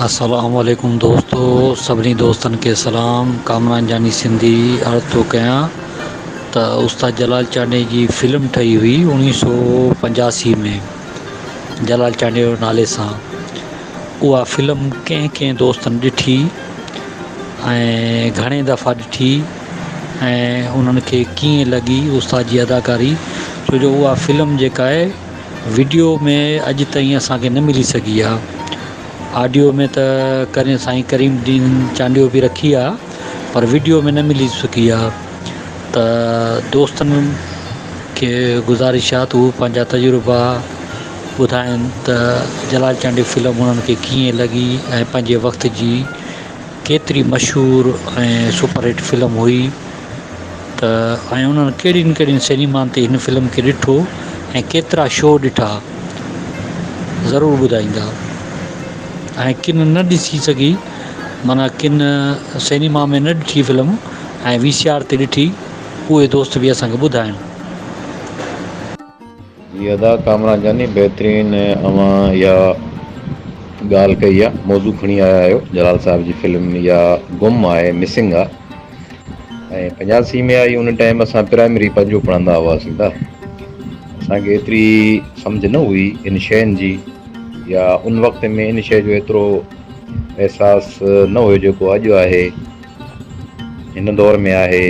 السلام عليڪم دوستو سڀني دوستن کي سلام ڪامران جاني سنڌي عرض ٿو ڪيان ته استاد جلال چانڊيي جي فلم ٺهي هئي اوڻيهه سو پنجاسي ۾ جلال چانڊيي نالي سان اها فلم ڪنهن ڪنهن دوستن ڏٺي ۽ گهڻي دفعا ڏٺي ۽ انهن کي ڪيئن لڳي استاد جي اداڪاري ڇو جو اها فلم جيڪا آهي وڊيو ۾ اڄ تائين اسان کي نه ملي سگهي آ آڊيو ۾ ته ڪرين سائين ڪريم الدين چانڊيو به رکي آ پر وڊيو ۾ نه ملي سگهي آ ته دوستن کي گذارش آ ته هو پنهنجا تجربا ٻڌائن ته جلال چانڊيو فلم هنن کي ڪيئن لڳي ۽ پنهنجي وقت جي ڪيتري مشهور ۽ سپر هٽ فلم هئي ته آيا انهن ڪهڙين ڪهڙين سينيمان تي هن فلم کي ڏٺو ۽ ڪيترا شو ڏٺا ضرور ٻڌائيندا ۽ ڪن نه ڏسي سگهي معنيٰ ڪن سينيما ۾ نه ڏٺي فلم ۽ وي سي آر تي ڏٺي اهي دوست به اسان کي ٻڌائن. جي ادا ڪامران جاني بهترين اوهان اها ڳالهه ڪئي آ موضوع کڻي آيا آهيو جلال صاحب جي فلم يا گم آهي مسنگ آ ۽ پنجاسي ۾ آئي ان ٽائيم اسان پرائمري پنجو پڙهندا هئاسين ته اسان کي ايتري سمجهه نه هئي ان شين جي يا ان وقت ۾ ان شين جو ايترو احساس نه هيو جيڪو اڄ آهي هن دور ۾ آهي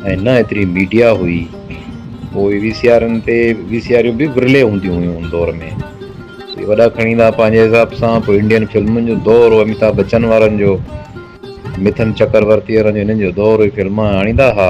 ۽ نه ايتري ميڊيا هئي پوء وي سي آرن تي وي سي آريون به ورلي هونديون هيون ان دور ۾ اهي وڏا کڻي ايندا پنهنجي حساب سان پوء انڊين فلمن جو دور هو اميتاڀ بچن وارن جو مٿن چڪرورتي وارن جو هنن جو دور هئي فلما آڻيندا ها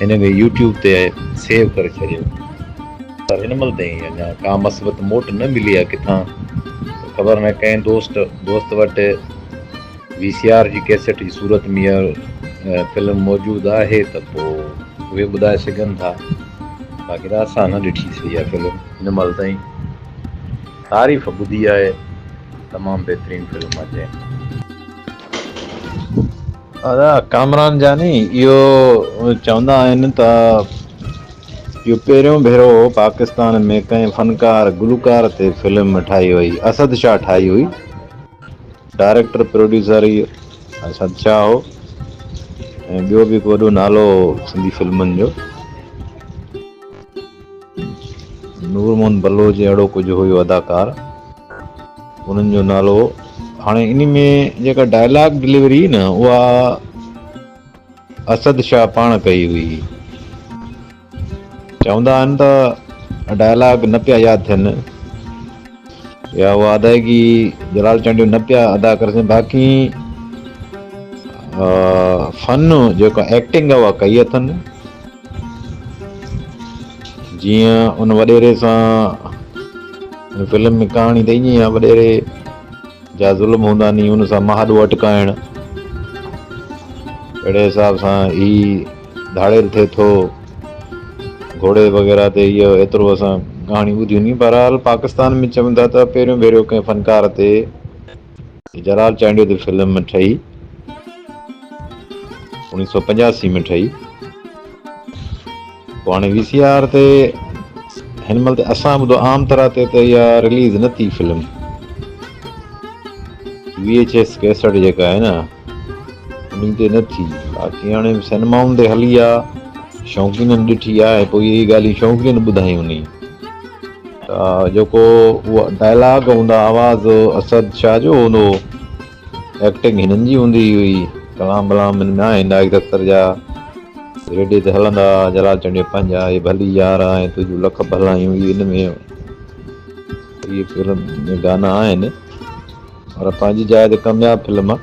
هن کي يوٽيوب تي سيو ڪري ڇڏيو پر هن مهل تائين اڃا ڪا مثبت موٽ نه ملي آهي ڪٿان خبر نه ڪنهن دوست دوست وٽ وي سي آر جي ڪيسٽ جي صورت ۾ اها فلم موجود آهي ته پوء اهي ٻڌائي سگهن ٿا باقي ته اسان نه ڏٺي سي اها فلم هن مهل تائين تعريف ٻڌي آهي تمام بهترين فلم آهي ادا ڪامران جاني اهو چوندا آهن ته اهو پهريون ڀيرو هو پاڪستان ۾ ڪنهن فنڪار گلوڪار تي فلم ٺاهي وئي اسد شاهه ٺاهي هئي ڊائريڪٽر پروڊيوسر هئي اسد شاهه هو ۽ ٻيو به هڪ وڏو نالو هو سنڌي فلمن جو نور محمد بلوچ ۽ اهڙو ڪجهه هيو اداڪار انهن جو نالو هاڻي انهي ۾ جيڪا ڊائلاگ ڊليوري هئي نه اها اسد شاهه پاڻ ڪئي هئي چوندا آهن ته ڊائلاگ نه پيا ياد ٿين يا اها ادائيگي جلال چانڊيو نه پيا ادا ڪري سگهن باقي فن جيڪا ايڪٽنگ اها ڪئي اٿن جيئن ان وڏيري سان ان فلم ۾ ڪهاڻي ته ائين ئي آهي وڏيري جا ظلم هوندا ني ان سان مهاڏو اٽڪائڻ اهڙي حساب سان هي ڌاڙيل ٿئي ٿو گهوڙي وغيره تي اهو ايترو اسان ڪهاڻي ٻڌيون ني بهرحال پاڪستان ۾ چون ٿا ته پهريون ڀيرو ڪنهن فنڪار تي جلال چانڊيو تي فلم ٺهي اوڻيهه سؤ پنجاسي ۾ ٺهي پوء هاڻي وي سي آر تي هن مهل تي اسان ٻڌو عام طرح تي ته اها رليز نه ٿي film V H S cassette جيڪا آهي نا انهن تي نه ٿي باقي هاڻي سينمائن تي هلي آ شوقينن ڏٺي آهي پوء اهي ڳالهيون شوقين ٻڌايون ني جيڪو اهو ڊائلاگ هوندا آواز اسد شاهه جو هوندو هو ايڪٽنگ هنن جي هوندي هئي ڪلام بلام هن ۾ آهن نائيڪ دفتر جا ريڊي تي هلندا جلال چنڊيو پنهنجا هي ڀلي يار آهن تنهنجون لک ڀلايون هي هن ۾ هي فلم ۾ گانا آهن پر پنهنجي جاء تي ڪامياب فلم آهي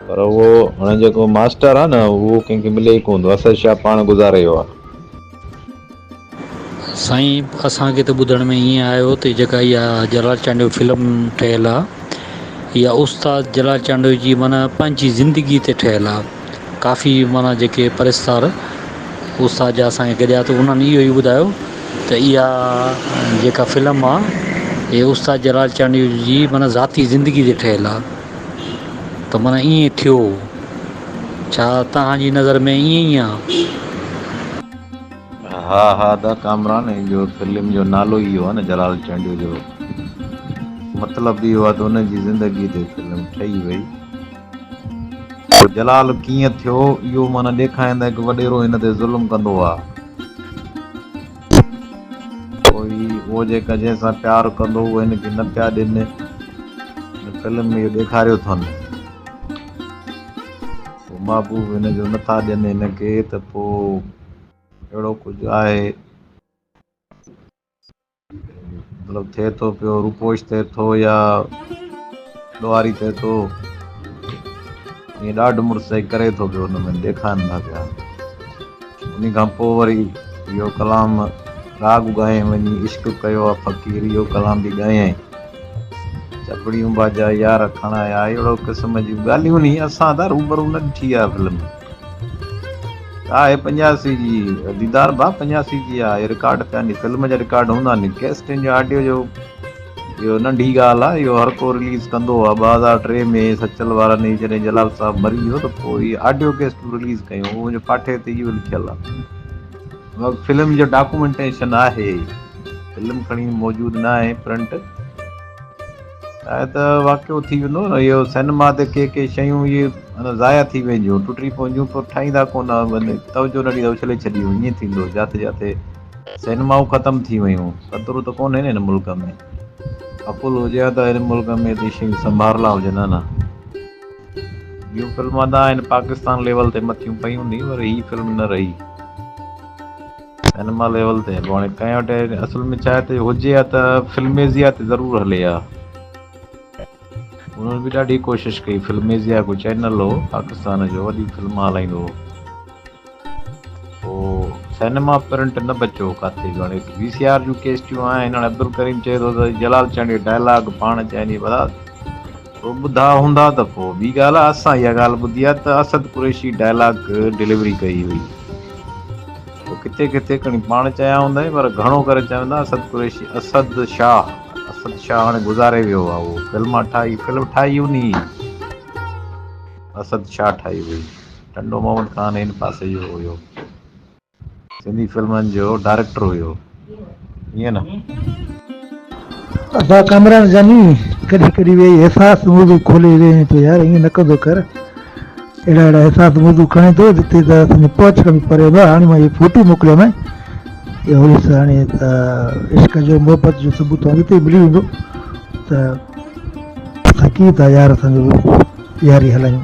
پر اهو هن جيڪو ماسٽر آهي نه اهو ڪنهن کي ملي ئي ڪونه ٿو اسد شاهه پاڻ گذاري ويو آهي. سائين اسان کي ته ٻڌڻ ۾ ائين آيو تي جيڪا اها جلال چانڊيو فلم ٺهيل آ اها استاد جلال چانڊيو جي معنيٰ پنهنجي زندگي تي ٺهيل آ ڪافي معنيٰ جيڪي پرستار استاد جا اسان کي گڏيا ته انهن اهو ئي ٻڌايو ته اها جيڪا فلم آ اها استاد جلال چانڊيو جي معنيٰ ذاتي زندگي تي ٺهيل آ. ته من ائين ٿيو، ڇا توهان جي نظر ۾ ائين ئي آ؟ ها ها ادا ڪامران هي جو فلم جو نالو ئي اهو آ نه جلال چانڊيو جو مطلب به اهو آ ته ان جي زندگي تي فلم ٺهي وئي هو جلال ڪيئن ٿيو اهو معنيٰ ڏيکاريندا هڪ وڏيرو هن تي ظلم ڪندو آ. پوء هو جيڪا جنهن سان پيار ڪندو هو هن کي نه پيا ڏين. هن فلم ۾ اهو ڏيکاريو اٿن. هو محبوب هن جو نه ٿا ڏين هن کي ته پوء اهڙو ڪجهه آهي. مطلب ٿئي ٿو پيو روپوش ٿئي ٿو يا. ڏوهاري ته تو ائين ڏاڍ مڙس جي ڪري ٿو پيو ان ۾ ڏيکائن ٿا پيا انهي کان پوء وري اهو ڪلام راڳ ڳايئين وڃي عشق ڪيو آ فقير اهو ڪلام به ڳايئين چپڙيون باجا يار کڻايا اهڙو قسم جون ڳالهيون ني اسان تان روبرو نه ڏٺي آ فلم آهي پنجاسي جي ديدار ڀا پنجاسي جي آهي رڪارڊ ٿيا ني فلم جا رڪارڊ هوندا ني ڪيسٽن جو آڊيو جو اهو ننڍي ڳالهه آهي، اهو هر ڪو رليز ڪندو آهي، ٻه هزار ٽي ۾ سچل وارن هي جڏهن جلال صاحب مري ويو ته پوء هي آڊيو ڪيسٽون رليز ڪيون، اهو منهنجي پاٺي تي اهو لکيل آهي. فلم جو ڊاڪومينٽيشن آهي، فلم کڻي موجود نه آهي پرنٽ آهي ته واقعو ٿي ويندو نه، اهو سئنيما تي ڪي ڪي شيون اهي معنيٰ ضايع ٿي وينديون، ٽٽي پونديون، پوء ٺاهيندا ڪونه، توجهه نه ڏيندا اڇلي ڇڏيون، ائين ٿيندو جاٿي جاٿي سينمائون ختم ٿي ويون خطرو ته ڪونهي نه ان ملڪ ۾ عقل هجي ها ته ان ملڪ ۾ ايتري شيون سنڀارلا هجن ها نه ٻيون فلم ادا آهن پاڪستان ليول تي مٿيون پئي هوندي پر هي فلم نه رهي سينما ليول تي هلو هاڻي ڪنهن وٽ اصل ۾ ڇا هتي هجي ها ته فلميزيا تي ضرور هلي ها انهن به ڏاڍي ڪوشش ڪئي فلميزيا ڪو چينل هو پاڪستان جو وڏي فلم هلائيندو هو هو سئنيما پرنٽ نه بچيو ڪاٿي جو هاڻي وي سي آر جون ڪيسٽيون آهن هاڻي عبدالڪريم چئي ٿو ته جلال چانڊيو ڊائلاگ پاڻ چئني ڀلا تو ٻڌا هوندا ته پوء ٻي ڳالهه آهي اسان اها ڳالهه ٻڌي آهي ته اسد قريشي ڊائلاگ ڊليوري ڪئي هئي تو ڪٿي ڪٿي کڻي پاڻ چيا هوندائين پر گهڻو ڪري چوندا اسد قريشي اسد شاهه اسد شاهه هاڻي گذاري ويو آهي اهو فلم ٺاهي فلم ٺاهي انهي اسد شاهه ٺاهي هئي ٽنڊو محمد خان هن پاسي جو هيو سنڌي فلمن جو ڊائريڪٽر هيو ائين نه ابا ڪامران جاني ڪڏهن ڪڏهن ويهي احساس موضوع کولي ويهين ٿو يار ائين نه ڪندو ڪر اهڙا اهڙا احساس موضوع کڻي ٿو جتي ته اسان پهچ کان به پري هوندو هاڻي مان اهي فوٽو موڪليو نه اهو هيس هاڻي ته عشق جو محبت جو ثبوت توهان جتي ملي ويندو ته اسان ڪيئن ٿا يار اسان جو ياري هلايون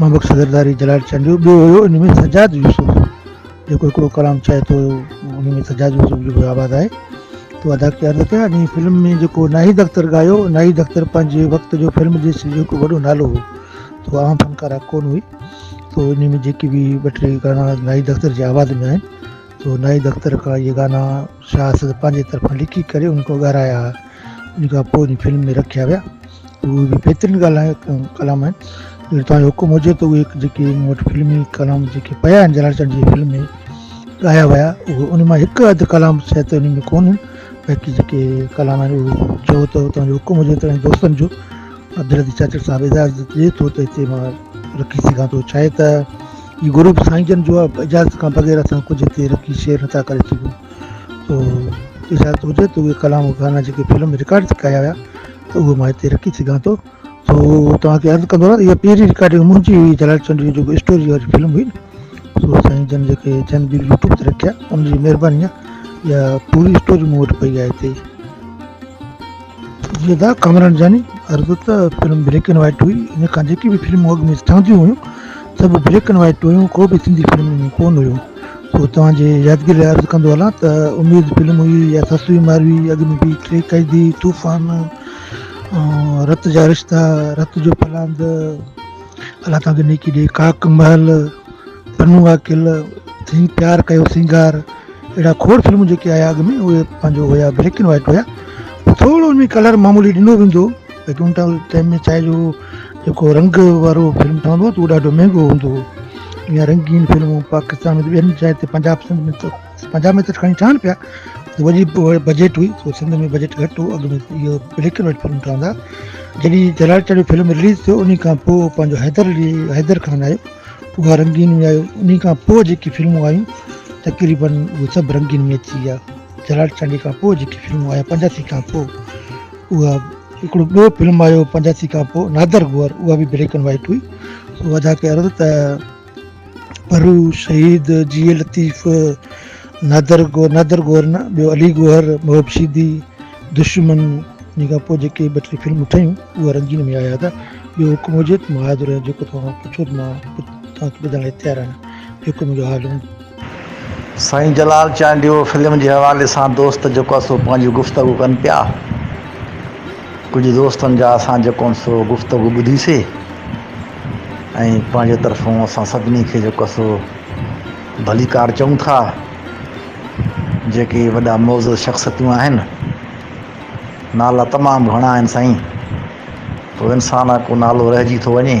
مبڪ صدرداري جلال چند جو ٻيو هيو ان ۾ سجاد يوسف جيڪو هڪڙو ڪلام چئي ٿو ان ۾ سجاد يوسف جو به آواز آهي تو ادا ڪي عرض ڪيا ان فلم ۾ جيڪو ناهيد اختر ڳايو ناهيد اختر پنهنجي وقت جو فلم ڏس جو هڪ وڏو نالو هو تو عام فنڪارا ڪون هئي تو ان ۾ جيڪي به ٻه ٽي گانا ناهيد اختر جي آواز ۾ آهن تو ناهيد اختر کان اهي گانا شاهه اسد پنهنجي طرفان لکي ڪري ان کان ڳارايا هئا ان کان پوء ان فلم ۾ رکيا ويا اهي به بهترين ڳالهه ڪلام آهن اگر توهان جو حڪم هجي ته اهي جيڪي مون وٽ فلمي ڪلام جيڪي پيا آهن جلال چنڊ جي فلم ۾ ڳايا ويا اهي ان مان هڪ اڌ ڪلام شايد ان ۾ ڪونهن باقي جيڪي ڪلام آهن اهي چئو ته توهان جو حڪم هجي ته دوستن جو عبدالحدي چاچڙ صاحب اجازت ڏي ٿو ته هتي مان رکي سگهان ٿو ڇا آهي ته هي گرو به سائين جن جو آهي اجازت کان بغير اسان ڪجهه هتي رکي شيئر نٿا ڪري سگهون تو اجازت هجي ته اهي ڪلام گانا جيڪي فلم ۾ رڪارڊ ٿي ڪيا ويا ته اهي مان هتي رکي سگهان ٿو تو توهان کي عرض ڪندو رهان اها پهرين رڪارڊنگ منهنجي هئي جلال چنڊيو جيڪو اسٽوري واري فلم هئي نه سو سائين جن جيڪي جن به يوٽيوب تي رکيا ان جي مهرباني آهي اها پوري اسٽوري مون وٽ پئي آهي هتي ودا ڪامران جاني عرض ته فلم بليڪ اينڊ وائيٽ هئي ان کان جيڪي به فلمون اڳ ۾ ٺهنديون هيون سڀ بليڪ اينڊ وائيٽ هيون ڪو به سنڌي فلم ان ۾ ڪون هيو پوء توهان جي يادگيري لاء عرض ڪندو هلان ته اميد فلم هئي يا سسوي ماروي اڳ ۾ به ٽي قيدي طوفان رت جا رشتا رت جو پلاند الله توهان کي نيڪي ڏي ڪاڪ محل پنو آ قل ٿي پيار ڪيو سينگار اهڙا کوڙ فلمون جيڪي آيا اڳ ۾ اهي پنهنجو هيا بليڪ اينڊ وائٽ هيا ٿورو ان ۾ ڪلر معمولي ڏنو ويندو ليڪن ان ٽائيم ۾ ڇاهي جو جيڪو رنگ وارو فلم ٺهندو هو ته اهو ڏاڍو مهنگو هوندو هو ائين رنگين فلمون پاڪستان ۾ ٻين جاين تي پنجاب سنڌ ۾ پنجاب ۾ ته کڻي ٺهن پيا وڏي بجيٽ هئي سو سنڌ ۾ بجيٽ گهٽ هو اڳ ۾ اهو بليڪ اينڊ وائٽ فلم ٺهندا جڏهن جلال چڙي فلم رليز ٿيو ان کان پوء پنهنجو حيدر علي حيدر خان آيو اها رنگين ۾ آيو ان کان پوء جيڪي فلمون آيون تقريبن اهي سڀ رنگين ۾ اچي ويا جلال چانڊي کان پوء جيڪي فلمون آيا پنجاسي کان پوء اها هڪڙو ٻيو فلم آيو پنجاسي کان پوء نادر گوهر اها به بليڪ اينڊ وائٽ هئي سو ادا ڪيو ته پرو، شهيد، جيئي لطيف، نادر گوهر نه ٻيو علي گوهر، محب سيدي، دشمن، ان کان پوء جيڪي ٻه ٽي فلمون ٺهيون اهي رنگين ۾ آيا ته ٻيو حڪم هجي ته مان حاضر آهيان جيڪو توهان کان پڇو ته مان توهان کي ٻڌائڻ لاء تيار آهيان جيڪو منهنجو حال هوندو. سائين جلال چانڊيو فلم جي حوالي سان دوست جيڪو آهي سو پنهنجي گفتگو ڪن پيا ڪجهه دوستن جا اسان جيڪو آهن سو گفتگو ٻڌيسي ۽ پنهنجي طرفون اسان سڀني کي جيڪو آهي سو ڀليڪار چئون ٿا جيڪي وڏا معزز شخصيتون آهن نالا تمام گهڻا آهن سائين پوء انسان آ ڪو نالو رهجي ٿو وڃي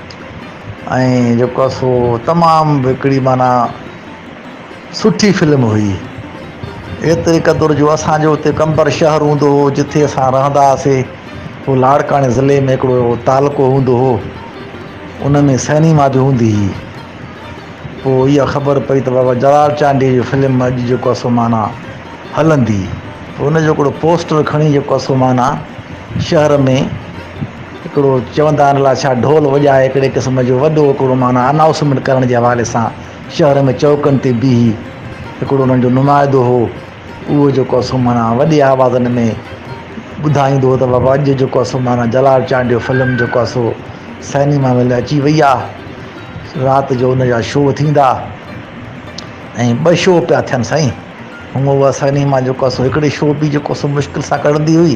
۽ جيڪو آهي سو تمام به هڪڙي معنيٰ سٺي فلم هئي ايتري قدر جو اسانجو اتي قمبر شهر هوندو هو جتي اسان رهندا هئاسين پوء لاڙڪاڻي ضلعي ۾ هڪڙو تعلقو هوندو هو ان ۾ سئنيما به هوندي هئي پوء اها خبر پئي ته بابا جلال چانڊيي جي فلم اڄ جيڪو آهي سو معنيٰ هلندي پوء ان جو هڪڙو پوسٽر کڻي جيڪو آهي سو معنيٰ شهر ۾ هڪڙو چوندا آهن الا ڇا ڍول وڄائي هڪڙي قسم جو وڏو هڪڙو معنيٰ انائوسمينٽ ڪرڻ جي حوالي سان شهر ۾ چوڪن تي بيهي هڪڙو انهن جو نمائدو هو اهو جيڪو اسو معنيٰ وڏي آوازن ۾ ٻڌائيندو هو ته بابا اڄ جيڪو اسو معنيٰ جلال چانڊيو فلم جيڪو اسو سئنيما مل اچي وئي آ رات جو ان جا شو ٿيندا ۽ ٻه شو پيا ٿين سائين هونء اها سئنيما جيڪو اسو هڪڙي شو به جيڪو اسو مشڪل سان ڪڙندي هئي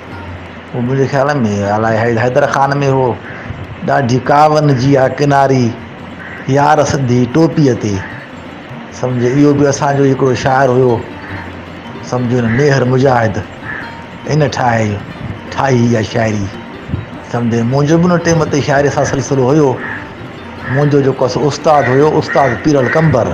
هو منهنجي خيال ۾ الائي حيدر خان ۾ هو ڏاڍي ڪاون جي آ ڪناري يار سنڌي ٽوپيء تي سمجهه اهو به اسانجو هڪڙو شاعر هيو سمجهه هن ميهر مجاهد ان ٺاهي ٺاهي اها شاعري سمجهه منهنجو به ان ٽيم تي شاعري سان سلسلو هيو منهنجو جيڪو استاد هيو استاد پيرل قمبر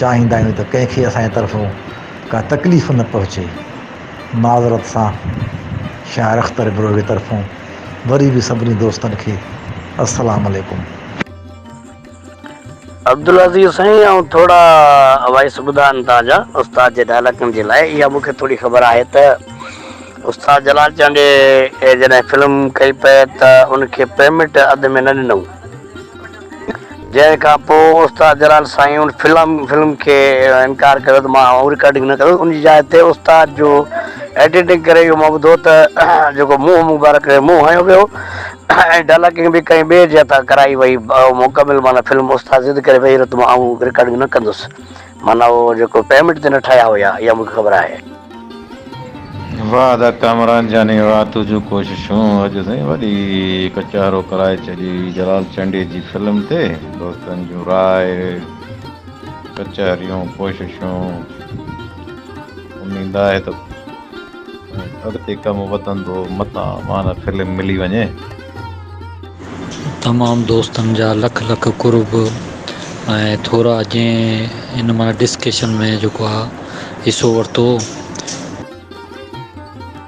چاهيندا آهيون ته ڪنهن کي اسان جي طرفون ڪا تڪليف نه پهچي. معذرت سان شاعر اختر ابروهي طرفون وري به سڀني دوستن کي السلام عليڪم. عبدالعزيز سائين آئون ٿورا وائس ٻڌان تان جا استاد جي ڊائلاگن جي لاء اها مون کي ٿوري خبر آهي ته استاد جلال چانڊيي جڏهن فلم ڪئي پئي ته ان کي پيمنٽ اڌ ۾ نه ڏنئون. جنهن کان پوء استاد جلال سائين ان فلم فلم کي انڪار ڪيو ته مان اهو رڪارڊنگ نه ڪندس ان جي جاء تي استاد جو ايڊيٽنگ ڪري اهو مان ٻڌو ته جيڪو منهن مبارڪ کي منهن هنيو ويو ۽ ڊالڪنگ به ڪنهن ٻئي جي هٿان ڪرائي وئي مڪمل معنيٰ فلم استاد ضد ڪري ويئي ته مان اهو رڪارڊنگ نه ڪندس معنيٰ اهو جيڪو پيمنٽ تي نه ٺاهيا هيا اها مون کي خبر آهي. واھ ادا ڪامران جاني واھ تنهنجون ڪوششون اڄ سائين وڏي ڪچهرو ڪرائي ڇڏي جلال چنڊي جي فلم تي دوستن جون راء ڪچهريون ڪوششون اميد آهي ته اڳتي ڪم وڌندو متان مان فلم ملي وڃي. تمام دوستن جا لک لک قرب ۽ ٿورا جنهن ان مان ڊسڪشن ۾ جيڪو آ حصو ورتو.